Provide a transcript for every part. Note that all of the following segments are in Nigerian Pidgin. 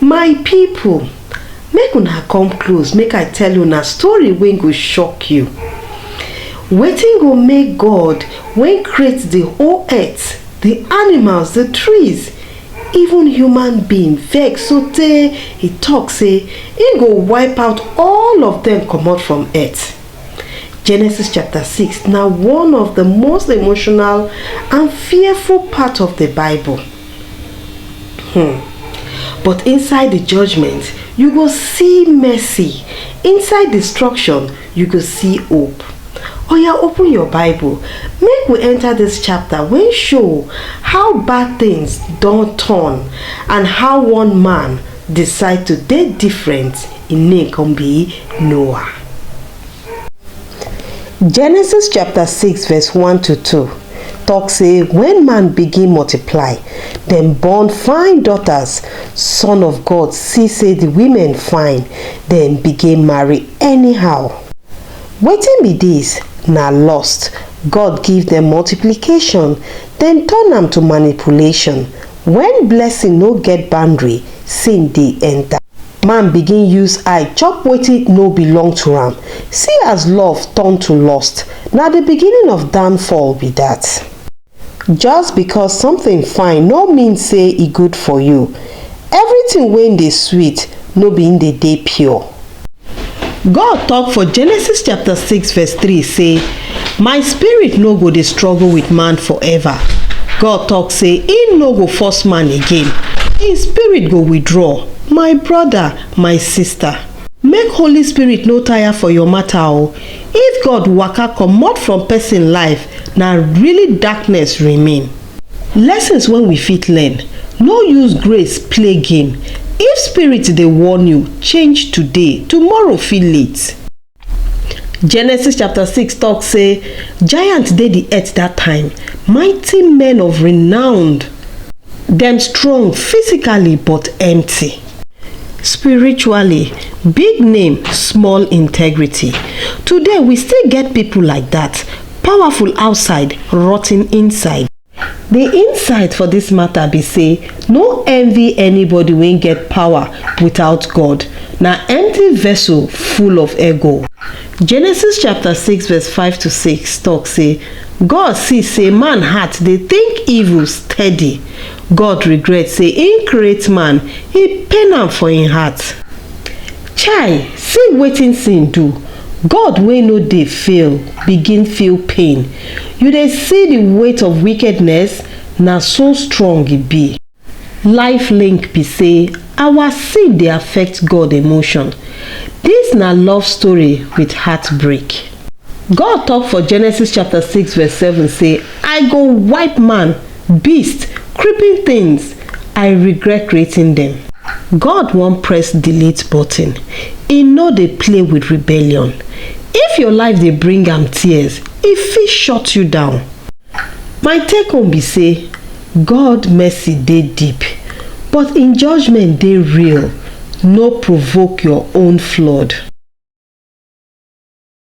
my people, make una come close make i tell una story wey go shock you wetin go make god wey create the whole earth the animals the trees Even human being vex sotey e tok sey im go wipe out all of dem comot from earth. Genesis chapter six na one of di most emotional and fearful part of di Bible. Hmm. But inside di judgement, you go see mercy, inside destruction, you go see hope. Oya open your bible make we enter this chapter wey show how bad things don turn and how one man decide to dey different im name come be Noah. Genesis chapter 6 verse 1 to 2 talk say when man begin multiply dem born fine daughters son of God see say the women fine dem begin marry Anyhow, wetin be dis na lust, God give dem multiplication, dem turn am to manipulation, wen blessing no get boundary, sin dey enter. Man begin use eye chop wetin no belong to am, see as love turn to lust, na di beginning of downfall be dat. Just because something fine no mean say e good for you, everything wey dey sweet no be im dey dey pure. God talk for Genesis chapter 6 verse 3 say, My spirit no go dey struggle with man forever. God talk say im no go force man again, im spirit go withdraw. My brother, my sister, make Holy Spirit no tire for your matter o. If God waka comot from person life, na really darkness remain. Lessons wey we fit learn, No use grace play game, If spirit dey warn you, change today, tomorrow fit late. Genesis chapter six talk say, Giants dey the earth that time, mighty men of renowned. Dem strong physically but empty. spiritually big name small integrity today we still get people like that powerful outside rotten inside the insight for this matter be say no envy anybody wey get power without god na empty vessel full of ego genesis chapter 6 verse 5 to 6 talk say god see say man heart dey think evil steady God regret say him create man, he pain am for him heart. Chai, see wetin sin do, God wey no dey fail begin feel pain, you dey see the weight of wickedness? Na so strong e be. Life link be say our sin dey affect God emotion, this na love story with heartbreak. God talk for Genesis chapter six verse seven say I go wipe man beast, creeping things, I regret creating them. God wan press delete button, e no dey play with rebellion. If your life dey bring am tears, e fit shut you down. My take home be say God mercy dey deep, but im judgement dey real, no provoke your own flood.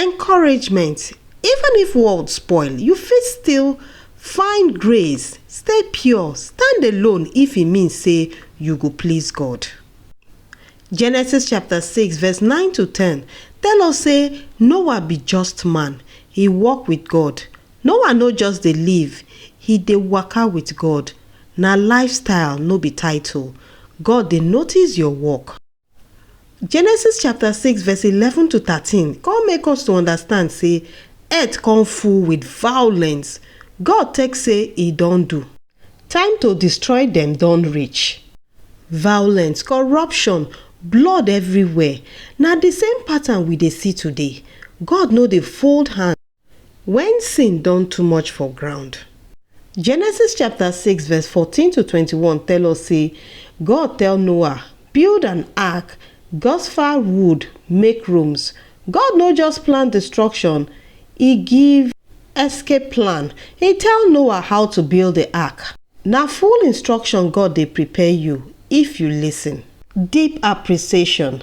Encouragement, Even if world spoil, you fit still find grace, stay pure, stand alone if e mean say you go please God. Genesis chapter 6 verse 9 to 10 tell us say Noah be just man, he walk with God. Noah no just dey live, he dey waka with God. Na lifestyle no be title. God dey notice your work. Genesis chapter 6 verse 11 to 13 come make us to understand say earth come full with violence. God take say e don do. Time to destroy dem don reach. Violence, corruption, blood everywhere. Na the same pattern we dey see today. God no dey fold hand. When sin don too much for ground. Genesis chapter 6 verse 14 to 21 tell us say God tell Noah, build an ark, God's fire wood, make rooms. God no just plan destruction, he give escape plan. He tell Noah how to build the ark. Na full instruction God dey prepare you if you listen. Deep appreciation.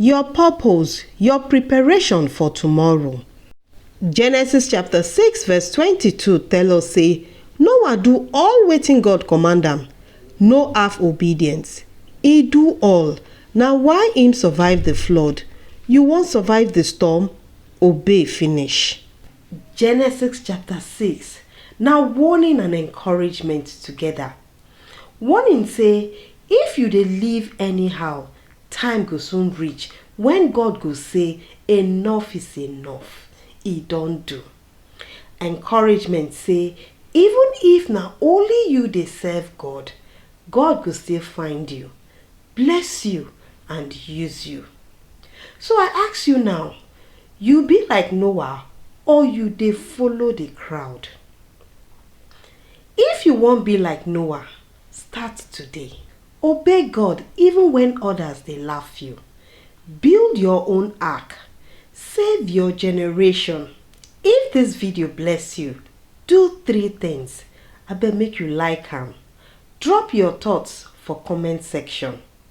Your purpose, your preparation for tomorrow. Genesis chapter 6 verse 22 tell us say Noah do all wetin God command am, no half obedience. He do all, na why him survive the flood. You wan survive the storm? Obey finish. Genesis chapter 6 na warning and encouragement together. Warning say if you dey live anyhow, time go soon reach when God go say enough is enough, e don do. Encouragement say even if na only you dey serve God, God go still find you, bless you and use you. So I ask you now, you be like Noah or you dey follow the crowd? If you wan be like Noah, start today. Obey God even when others dey laugh you. Build your own ark. Save your generation. If this video bless you, do three things. Abeg make you like am. Drop your thoughts for comment section.